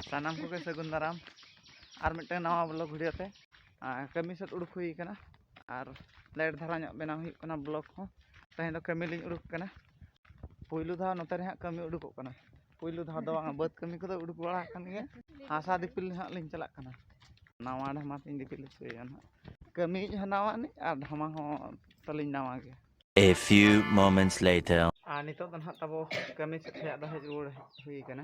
ᱥᱟᱱᱟᱢ ᱠᱚᱜᱮ ᱥᱟᱹᱜᱩᱱ ᱫᱟᱨᱟᱢ ᱟᱨ ᱢᱤᱫᱴᱟᱝ ᱱᱟᱣᱟ ᱵᱞᱚᱜ ᱵᱷᱤᱰᱤᱭᱳ ᱛᱮ ᱠᱟᱹᱢᱤ ᱥᱮᱫ ᱩᱰᱩᱠ ᱦᱩᱭ ᱠᱟᱱᱟ ᱟᱨ ᱞᱮᱴ ᱫᱷᱟᱨᱟ ᱧᱚᱜ ᱵᱮᱱᱟᱣ ᱦᱩᱭᱩᱜ ᱠᱟᱱᱟ ᱵᱞᱚᱜ ᱦᱚᱸ ᱛᱮᱦᱮᱧ ᱫᱚ ᱠᱟᱹᱢᱤ ᱞᱤᱧ ᱩᱰᱩᱠ ᱠᱟᱱᱟ ᱯᱩᱭᱞᱩ ᱫᱷᱟᱣ ᱱᱚᱛᱮ ᱨᱮ ᱦᱟᱸᱜ ᱠᱟᱹᱢᱤ ᱩᱰᱩᱠᱚᱜ ᱠᱟᱱᱟ ᱯᱩᱭᱞᱩ ᱫᱷᱟᱣ ᱫᱚ ᱵᱟᱝ ᱵᱟᱹᱫᱽ ᱠᱟᱹᱢᱤ ᱠᱚᱫᱚ ᱩᱰᱩᱠ ᱵᱟᱲᱟ ᱟᱠᱟᱱ ᱜᱮᱭᱟ ᱦᱟᱥᱟ ᱫᱤᱯᱤᱞ ᱦᱟᱸᱜ ᱞᱤᱧ ᱪᱟᱞᱟᱜ ᱠᱟᱱᱟ ᱱᱟᱣᱟ ᱰᱷᱟᱢᱟ ᱛᱤᱧ ᱫᱤᱯᱤᱞ ᱦᱚᱪᱚᱭᱟ ᱦᱟᱸᱜ ᱠᱟᱹᱢᱤ ᱦᱚᱸ ᱱᱟᱣᱟ ᱟᱹᱱᱤᱡ ᱟᱨ ᱰᱷᱟᱢᱟ ᱦᱚᱸ ᱛᱟᱹᱞᱤᱧ ᱱᱟᱣᱟ ᱜᱮ A few moments later. ᱟᱨ ᱱᱤᱛᱚᱜ ᱫᱚ ᱱᱟᱦᱟᱜ ᱛᱟᱵᱚ ᱠᱟᱹᱢᱤ ᱥᱮᱫ ᱠᱷᱚᱱᱟᱜ ᱫᱚ ᱦᱮᱡ ᱨᱩᱣᱟᱹᱲ ᱦᱩᱭ ᱠᱟᱱᱟ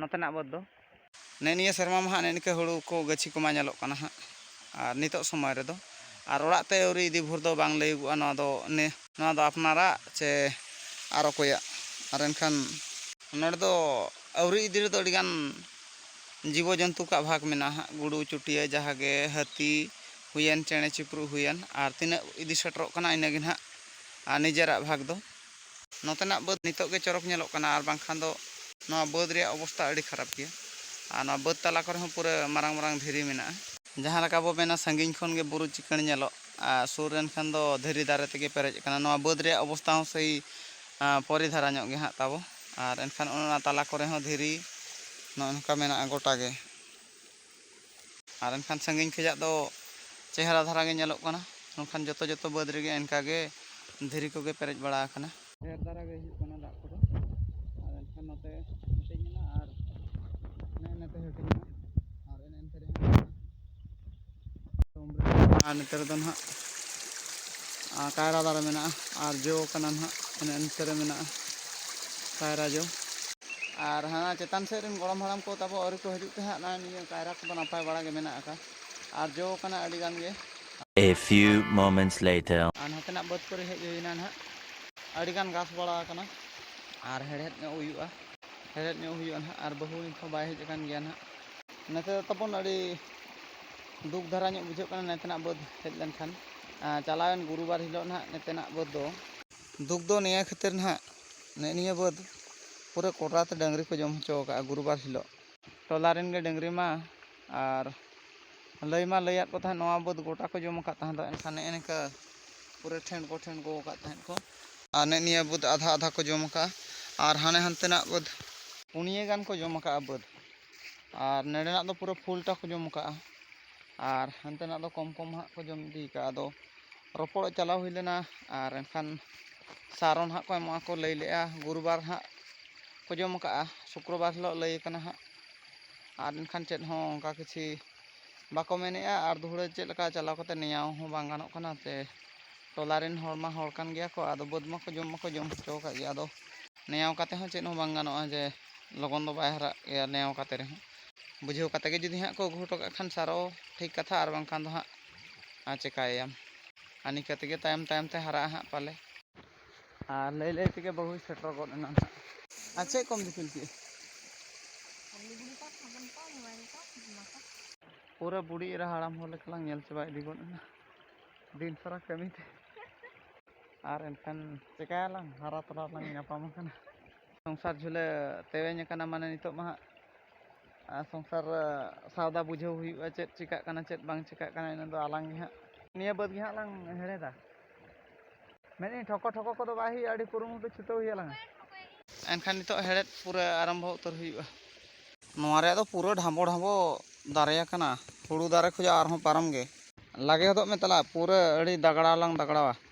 ᱱᱚᱛᱮᱱᱟᱜ ᱵᱟᱹᱫᱽ ᱫᱚ ᱱᱮ ᱱᱤᱭᱟᱹ ᱥᱮᱨᱢᱟ ᱢᱟ ᱦᱟᱸᱜ ᱱᱮ ᱱᱤᱝᱠᱟᱹ ᱦᱩᱲᱩ ᱠᱚ ᱜᱟᱹᱪᱷᱤ ᱠᱚᱢᱟ ᱧᱮᱞᱚᱜ ᱠᱟᱱᱟ ᱦᱟᱸᱜ ᱟᱨ ᱱᱤᱛᱚᱜ ᱥᱚᱢᱚᱭ ᱨᱮᱫᱚ ᱟᱨ ᱚᱲᱟᱜ ᱛᱮ ᱟᱹᱣᱨᱤ ᱤᱫᱤ ᱵᱷᱳᱨ ᱫᱚ ᱵᱟᱝ ᱞᱟᱹᱭᱚᱜᱚᱜᱼᱟ ᱱᱚᱣᱟ ᱫᱚ ᱱᱮ ᱱᱚᱣᱟ ᱫᱚ ᱟᱯᱱᱟᱨᱟᱜ ᱪᱮ ᱟᱨ ᱚᱠᱚᱭᱟᱜ ᱟᱨ ᱮᱱᱠᱷᱟᱱ ᱱᱚᱰᱮ ᱫᱚ ᱟᱹᱣᱨᱤ ᱤᱫᱤ ᱨᱮᱫᱚ ᱟᱹᱰᱤ ᱜᱟᱱ ᱡᱤᱵᱚ ᱡᱚᱱᱛᱩ ᱠᱚᱣᱟᱜ ᱵᱷᱟᱜᱽ ᱢᱮᱱᱟᱜᱼᱟ ᱦᱟᱸᱜ ᱜᱩᱰᱩ ᱪᱩᱴᱤᱭᱟᱹ ᱡᱟᱦᱟᱸ ᱜᱮ ᱦᱟᱹᱛᱤ ᱦᱩᱭᱮᱱ ᱪᱮᱬᱮ ᱪᱤᱯᱨᱩᱫ ᱦᱩᱭᱮᱱ ᱟᱨ ᱛᱤᱱᱟᱹᱜ ᱤᱫᱤ ᱥᱮᱴᱮᱨᱚᱜ ᱠᱟᱱᱟ ᱤᱱᱟᱹ ᱜᱮ ᱦᱟᱸᱜ ᱟᱨ ᱱᱤᱡᱮᱨᱟᱜ ᱵᱷᱟᱜᱽ ᱫᱚ ᱱᱚᱛᱮᱱᱟᱜ ᱵᱟᱹᱫᱽ ᱱᱤᱛᱚᱜ ᱜᱮ ᱪᱚᱨᱚᱠ ᱧᱮᱞᱚᱜ ᱠᱟᱱᱟ ᱟᱨ ᱵᱟᱝᱠᱷᱟᱱ ᱫᱚ ᱱᱚᱣᱟ ᱵᱟᱹᱫᱽ ᱨᱮᱭᱟᱜ ᱚᱵᱚᱥᱛᱟ ᱟᱹᱰᱤ ᱠᱷᱟᱨᱟᱯ ᱜᱮᱭᱟ ᱟᱨ ᱱᱚᱣᱟ ᱵᱟᱹᱫᱽ ᱛᱟᱞᱟ ᱠᱚᱨᱮ ᱦᱚᱸ ᱯᱩᱨᱟᱹ ᱢᱟᱨᱟᱝ ᱢᱟᱨᱟᱝ ᱫᱷᱤᱨᱤ ᱢᱮᱱᱟᱜᱼᱟ᱾ ᱡᱟᱦᱟᱸ ᱞᱮᱠᱟ ᱵᱚ ᱢᱮᱱᱟ ᱥᱟᱺᱜᱤᱧ ᱠᱷᱚᱱ ᱜᱮ ᱵᱩᱨᱩ ᱪᱤᱠᱟᱹᱬ ᱧᱮᱞᱚᱜ ᱟᱨ ᱥᱩᱨ ᱨᱮᱱ ᱠᱷᱟᱱ ᱫᱚ ᱫᱷᱤᱨᱤ ᱫᱟᱨᱮ ᱛᱮᱜᱮ ᱯᱮᱨᱮᱡ ᱟᱠᱟᱱᱟ᱾ ᱱᱚᱣᱟ ᱵᱟᱹᱫᱽ ᱨᱮᱭᱟᱜ ᱚᱵᱚᱥᱛᱟ ᱦᱚᱸ ᱥᱮᱭ ᱯᱚᱨᱤ ᱫᱷᱟᱨᱟ ᱧᱚᱜ ᱜᱮ ᱦᱟᱸᱜ ᱛᱟᱵᱚ ᱟᱨ ᱮᱱᱠᱷᱟᱱ ᱚᱱᱮ ᱚᱱᱟ ᱛᱟᱞᱟ ᱠᱚᱨᱮ ᱦᱚᱸ ᱫᱷᱤᱨᱤ ᱱᱚᱜᱼᱚᱭ ᱱᱚᱝᱠᱟ ᱢᱮᱱᱟᱜᱼᱟ ᱜᱚᱴᱟ ᱜᱮ ᱟᱨ ᱮᱱᱠᱷᱟᱱ ᱥᱟᱺᱜᱤᱧ ᱠᱷᱚᱱᱟᱜ ᱫᱚ ᱪᱮᱦᱨᱟ ᱫᱷᱟᱨᱟ ᱜᱮ ᱧᱮᱞᱚᱜ ᱠᱟᱱᱟ ᱢᱮᱱᱠᱷᱟᱱ ᱡᱚᱛᱚ ᱡᱚᱛᱚ ᱵᱟᱹᱫᱽ ᱨᱮᱜᱮ ᱚᱱᱠᱟ ᱜᱮ ᱫᱷᱤᱨᱤ ᱠᱚᱜᱮ ᱯᱮᱨᱮᱡ ᱵᱟᱲᱟ ᱟᱠᱟᱱᱟ ᱰᱷᱮᱨ ᱫᱷᱟᱨᱟ ᱜᱮ ᱦᱩᱭᱩᱜ ᱠᱟᱱᱟ ᱫᱟᱜ ᱠᱚᱫᱚ ᱟᱨ ᱮᱱᱠᱷᱟᱱ ᱱᱚᱛᱮ ᱦᱟᱹᱴᱤᱧ ᱮᱱᱟ ᱟᱨ ᱱᱮᱜᱼᱮ ᱱᱮᱛᱮ ᱦᱟᱹᱴᱤᱧ ᱮᱱᱟ ᱟᱨ ᱱᱚᱛᱮ ᱨᱮᱫᱚ ᱱᱟᱦᱟᱜ ᱠᱟᱭᱨᱟ ᱫᱟᱨᱮ ᱢᱮᱱᱟᱜᱼᱟ ᱟᱨ ᱡᱚ ᱠᱟᱱᱟ ᱱᱟᱦᱟᱜ ᱚᱱᱮ ᱚᱱᱛᱮ ᱨᱮ ᱢᱮᱱᱟᱜᱼᱟ ᱠᱟᱭᱨᱟ ᱡᱚ ᱟᱨ ᱦᱟᱱᱟ ᱪᱮᱛᱟᱱ ᱥᱮᱫ ᱨᱮᱱ ᱜᱚᱲᱚᱢ ᱦᱟᱲᱟᱢ ᱠᱚ ᱛᱟᱵᱚ ᱟᱹᱣᱨᱤ ᱠᱚ ᱦᱤᱡᱩᱜ ᱛᱮ ᱦᱟᱸᱜ ᱱᱚᱜᱼᱚᱭ ᱱᱤᱭᱟᱹ ᱠᱟᱭᱨᱟ ᱠᱚᱫᱚ ᱱᱟᱯᱟᱭ ᱵᱟᱲᱟ ᱜᱮ ᱢᱮᱱᱟᱜ ᱟᱠᱟᱫ ᱟᱨ ᱡᱚ ᱠᱟᱱᱟ ᱟᱹᱰᱤ ᱜᱟᱱ ᱜᱮ A few moments later. ᱟᱨ ᱱᱚᱛᱮᱱᱟᱜ ᱵᱟᱹᱫᱽ ᱠᱚᱨᱮ ᱦᱮᱡ ᱦᱩᱭᱱᱟ ᱱᱟᱦᱟᱜ ᱟᱹᱰᱤ ᱜᱟᱱ ᱜᱷᱟᱥ ᱵᱟᱲᱟ ᱟᱠᱟᱱᱟ ᱟᱨ ᱦᱮᱲᱦᱮᱫ ᱧᱚᱜ ᱦᱩᱭᱩᱜᱼᱟ ᱦᱮᱲᱦᱮᱫ ᱧᱚᱜ ᱦᱩᱭᱩᱜᱼᱟ ᱱᱟᱦᱟᱜ ᱟᱨ ᱵᱟᱹᱦᱩ ᱱᱤᱛ ᱦᱚᱸ ᱵᱟᱭ ᱦᱮᱡ ᱟᱠᱟᱱ ᱜᱮᱭᱟ ᱱᱟᱦᱟᱜ ᱱᱚᱛᱮ ᱫᱚ ᱛᱟᱵᱚᱱ ᱟᱹᱰᱤ ᱫᱩᱠ ᱫᱷᱟᱨᱟ ᱧᱚᱜ ᱵᱩᱡᱷᱟᱹᱜ ᱠᱟᱱᱟ ᱱᱮᱛᱮᱱᱟᱜ ᱵᱟᱹᱫᱽ ᱦᱮᱡ ᱞᱮᱱᱠᱷᱟᱱ ᱪᱟᱞᱟᱣᱮᱱ ᱜᱩᱨᱩᱵᱟᱨ ᱦᱤᱞᱳᱜ ᱱᱟᱦᱟᱜ ᱱᱮᱛᱮᱱᱟᱜ ᱵᱟᱹᱫᱽ ᱫᱚ ᱫᱩᱠ ᱫᱚ ᱱᱤᱭᱟᱹ ᱠᱷᱟᱹᱛᱤᱨ ᱱᱟᱦᱟᱜ ᱱᱮᱜᱼᱮ ᱱᱤᱭᱟᱹ ᱵᱟᱹᱫᱽ ᱯᱩᱨᱟᱹ ᱠᱚᱰᱨᱟ ᱛᱮ ᱰᱟᱹᱝᱨᱤ ᱠᱚ ᱡᱚᱢ ᱦᱚᱪᱚ ᱟᱠᱟᱫᱼᱟ ᱜᱩᱨᱩᱵᱟᱨ ᱦᱤᱞᱳᱜ ᱴᱚᱞᱟ ᱨᱮᱱ ᱜᱮ ᱰᱟᱹᱝᱨᱤ ᱢᱟ ᱟᱨ ᱞᱟᱹᱭ ᱢᱟ ᱞᱟᱹᱭᱟᱫ ᱠᱚ ᱛᱟᱦᱮᱸᱫ ᱱᱚᱣᱟ ᱵᱟᱹᱫᱽ ᱜᱚᱴᱟ ᱠᱚ ᱡᱚᱢ ᱟᱠᱟᱫ ᱛᱟᱦᱮᱸᱫ ᱮᱱᱠᱷᱟᱱ ᱱᱮᱜᱼᱮ ᱱᱤᱝᱠᱟᱹ ᱯᱩᱨᱟᱹ ᱴᱷᱮᱱ ᱠᱚ ᱴᱷᱮᱱ ᱠᱚ ᱟᱠᱟᱫ ᱛᱟᱦᱮᱸᱫ ᱠᱚ ᱟᱨ ᱱᱮᱜᱼᱮ ᱱᱤᱭᱟᱹ ᱵᱟᱹᱫᱽ ᱟᱫᱷᱟ ᱟᱫᱷᱟ ᱠᱚ ᱡᱚᱢ ᱟᱠᱟᱫᱼᱟ ᱟᱨ ᱦᱟᱱᱮ ᱦᱟᱱᱛᱮᱱᱟᱜ ᱵᱟᱹᱫᱽ ᱯᱩᱱᱭᱟᱹ ᱜᱟᱱ ᱠᱚ ᱡᱚᱢ ᱟᱠᱟᱫᱼᱟ ᱵᱟᱹᱫᱽ ᱟᱨ ᱱᱮᱰᱮᱱᱟᱜ ᱫᱚ ᱯᱩᱨᱟᱹ ᱯᱷᱩᱞᱴᱟ ᱠᱚ ᱡᱚᱢ ᱠᱟᱜᱼᱟ ᱟᱨ ᱦᱟᱱᱛᱮᱱᱟᱜ ᱫᱚ ᱠᱚᱢ ᱠᱚᱢ ᱦᱟᱸᱜ ᱠᱚ ᱡᱚᱢ ᱤᱫᱤ ᱠᱟᱜᱼᱟ ᱟᱫᱚ ᱨᱚᱯᱚᱲᱚᱜ ᱪᱟᱞᱟᱣ ᱦᱩᱭ ᱞᱮᱱᱟ ᱟᱨ ᱮᱱᱠᱷᱟᱱ ᱥᱟᱨᱚᱱ ᱦᱟᱸᱜ ᱠᱚ ᱮᱢᱚᱜᱼᱟ ᱠᱚ ᱞᱟᱹᱭ ᱞᱮᱜᱼᱟ ᱜᱩᱨᱩᱵᱟᱨ ᱦᱟᱸᱜ ᱠᱚ ᱡᱚᱢ ᱠᱟᱜᱼᱟ ᱥᱩᱠᱨᱚᱵᱟᱨ ᱦᱤᱞᱳᱜ ᱞᱟᱹᱭ ᱠᱟᱱᱟ ᱦᱟᱸᱜ ᱟᱨ ᱮᱱᱠᱷᱟᱱ ᱪᱮᱫ ᱦᱚᱸ ᱚᱱᱠᱟ ᱠᱤᱪᱷᱤ ᱵᱟᱠᱚ ᱢᱮᱱᱮᱜᱼᱟ ᱟᱨ ᱫᱩᱦᱲᱟᱹ ᱪᱮᱫ ᱞᱮᱠᱟ ᱪᱟᱞᱟᱣ ᱠᱟᱛᱮ ᱱᱮᱭᱟᱣ ᱦᱚᱸ ᱵᱟᱝ ᱜᱟᱱᱚᱜ ᱠᱟᱱᱟ ᱥᱮ ᱴᱚᱞᱟ ᱨᱮᱱ ᱦᱚᱲ ᱢᱟ ᱦᱚᱲ ᱠᱟᱱ ᱜᱮᱭᱟ ᱠᱚ ᱟᱫᱚ ᱵᱟᱹᱫᱽ ᱢᱟᱠᱚ ᱡᱚᱢ ᱢᱟᱠᱚ ᱡᱚᱢ ᱦᱚᱪᱚ ᱟᱠᱟᱫ ᱜᱮᱭᱟ ᱟᱫᱚ ᱱᱮᱭᱟᱣ ᱠᱟᱛᱮ ᱦᱚᱸ ᱪᱮᱫ ᱦᱚᱸ ᱵᱟᱝ ᱜᱟᱱᱚᱜᱼᱟ ᱡᱮ ᱞᱚᱜᱚᱱ ᱫᱚ ᱵᱟᱭ ᱦᱟᱨᱟᱜ ᱜᱮᱭᱟ ᱱᱮᱭᱟᱣ ᱠᱟᱛᱮ ᱨᱮᱦᱚᱸ ᱵᱩᱡᱷᱟᱹᱣ ᱠᱟᱛᱮ ᱜᱮ ᱡᱩᱫᱤ ᱦᱟᱸᱜ ᱠᱚ ᱟᱹᱜᱩ ᱦᱚᱴᱚ ᱠᱟᱜ ᱠᱷᱟᱱ ᱥᱟᱨᱚ ᱴᱷᱤᱠ ᱠᱟᱛᱷᱟ ᱟᱨ ᱵᱟᱝᱠᱷᱟᱱ ᱫᱚ ᱦᱟᱸᱜ ᱟᱨ ᱪᱮᱠᱟᱭᱟᱢ ᱟᱨ ᱱᱤᱝᱠᱟᱹ ᱛᱮᱜᱮ ᱛᱟᱭᱚᱢ ᱛᱟᱭᱚᱢ ᱛᱮ ᱦᱟᱨᱟᱜᱼᱟ ᱦᱟᱸᱜ ᱯᱟᱞᱮ ᱟᱨ ᱞᱟᱹᱭ ᱞᱟᱹᱭ ᱛᱮᱜᱮ ᱵᱟᱹᱦᱩᱭ ᱥᱮᱴᱮᱨ ᱜᱚᱫ ᱮᱱᱟ ᱦᱟᱸᱜ ᱟᱨ ᱪᱮᱫ ᱠᱚᱢ ᱫᱤᱯᱤᱞ ᱠᱮᱫᱼᱟ ᱯᱩᱨᱟᱹ ᱵᱩᱲᱤ ᱮᱨᱟ ᱦᱟᱲᱟᱢ ᱦᱚᱲ ᱞᱮᱠᱟ ᱞᱟᱝ ᱧᱮᱞ ᱪᱟᱵᱟ ᱤᱫᱤ ᱜᱚᱫ ᱮᱱᱟ ᱫᱤᱱ ᱥᱟᱨᱟ ᱠᱟᱹᱢᱤ ᱛᱮ ᱟᱨ ᱮᱱᱠᱷᱟᱱ ᱪᱮᱠᱟᱭᱟᱞᱟᱝ ᱦᱟᱨᱟ ᱛᱚᱨᱟ ᱞᱟᱝ ᱧᱟᱯᱟᱢ ᱟᱠᱟᱱᱟ ᱥᱚᱝᱥᱟᱨ ᱡᱷᱩᱞᱟᱹ ᱛᱮᱣᱮᱧ ᱟᱠᱟᱱᱟ ᱢᱟᱱᱮ ᱱᱤᱛᱚᱜ ᱢᱟ ᱦᱟᱸᱜ ᱥᱚᱝᱥᱟᱨ ᱥᱟᱣᱫᱟ ᱵᱩᱡᱷᱟᱹᱣ ᱦᱩᱭᱩᱜᱼᱟ ᱪᱮᱫ ᱪᱮᱠᱟᱜ ᱠᱟᱱᱟ ᱪᱮᱫ ᱵᱟᱝ ᱪᱮᱠᱟᱜ ᱠᱟᱱᱟ ᱤᱱᱟᱹ ᱫᱚ ᱟᱞᱟᱝ ᱜᱮ ᱦᱟᱸᱜ ᱱᱤᱭᱟᱹ ᱵᱟᱹᱫᱽ ᱜᱮ ᱦᱟᱸᱜ ᱞᱟᱝ ᱦᱮᱲᱦᱮᱫᱟ ᱢᱮᱱᱮᱫ ᱴᱷᱚᱠᱚ ᱴᱷᱚᱠᱚ ᱠᱚᱫᱚ ᱵᱟᱭ ᱦᱩᱭᱩᱜᱼᱟ ᱟᱹᱰᱤ ᱠᱩᱨᱩᱢᱩᱴᱩ ᱪᱷᱩᱴᱟᱹᱣ ᱦᱩᱭᱩᱜᱼᱟ ᱞᱟᱝ ᱮᱱᱠᱷᱟᱱ ᱱᱤᱛᱚᱜ ᱦᱮᱲᱦᱮᱫ ᱯᱩᱨᱟᱹ ᱟᱨᱟᱢᱵᱷᱚ ᱩᱛᱟᱹᱨ ᱦᱩᱭᱩᱜᱼᱟ ᱱᱚᱣᱟ ᱨᱮᱭᱟᱜ ᱫᱚ ᱯᱩᱨᱟᱹ ᱰᱷᱟᱸᱵᱚ ᱰᱷᱟᱸᱵᱚ ᱫᱟᱨᱮ ᱟᱠᱟᱱᱟ ᱦᱩᱲᱩ ᱫᱟᱨᱮ ᱠᱷᱚᱱᱟᱜ ᱟᱨᱦᱚᱸ ᱯᱟᱨᱚᱢ ᱜᱮ ᱞᱟᱜᱮ ᱦᱚᱫᱚᱜ ᱢᱮ ᱛᱟᱞᱟ ᱯᱩᱨᱟᱹ ᱟᱹᱰᱤ ᱫᱟᱜᱽᱲᱟᱣ ᱞᱟᱝ ᱫᱟᱜᱽᱲᱟᱣᱟ